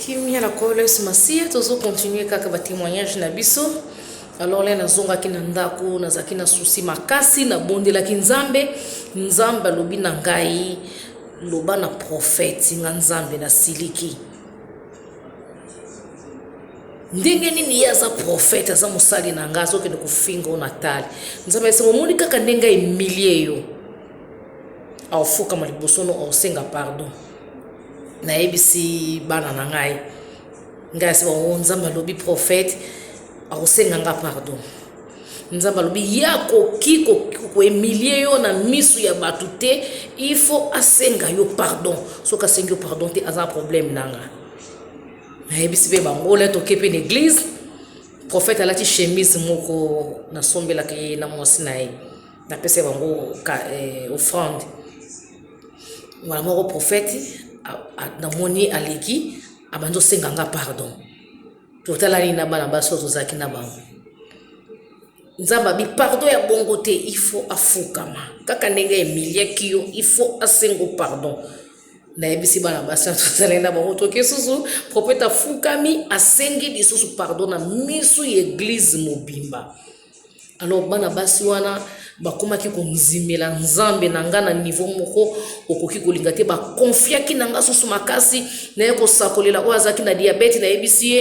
kimia na nkolo yesu masiya tozo continue kaka batémoignage na biso alors le nazongaki na ndako nazalaki na susi makasi nabondelaki nzambe nzambe alobi na ngai loba na profete nga nzambe nasiliki ndenge nini ye aza profete aza mosali na ngai azokende kofinga o natali nzambe esengo omoni kaka ndenge emilie yo aofukama liboso no aosenga pardon nayebisi bana na ngai ngai asi bango oh, nzambe alobi prophète akosenga nga pardon nzambe alobi ye akoki koemilie yo na misu ya bato te il faut asenga yo pardon soki asengi yo pardon te aza problème na nga nayebisi mpe bango le toke mpe na église prophète alati chemise moko nasombelaka ye na mwasi na ye napesa bango eh, offrande mbala moko profeti namoni aleki abandi osenga nga pardon totalani na bana basi oyo tozalaki na bango nzambe abi pardon ya bongo te ifo afukama kaka ndenge emiliaki yo ifo asengo pardon nayebisi bana basi tozalaki na bango toke susu profeti afukami asengi lisusu pardon na misu ya eglize mobimba Alors bana basi wana bakomaki konzimela nzambe na nga na nivo moko okoki kolinga te bakonfiaki na nga susu makasi naye kosakolela oyo azalaki na diabete nayebisi ye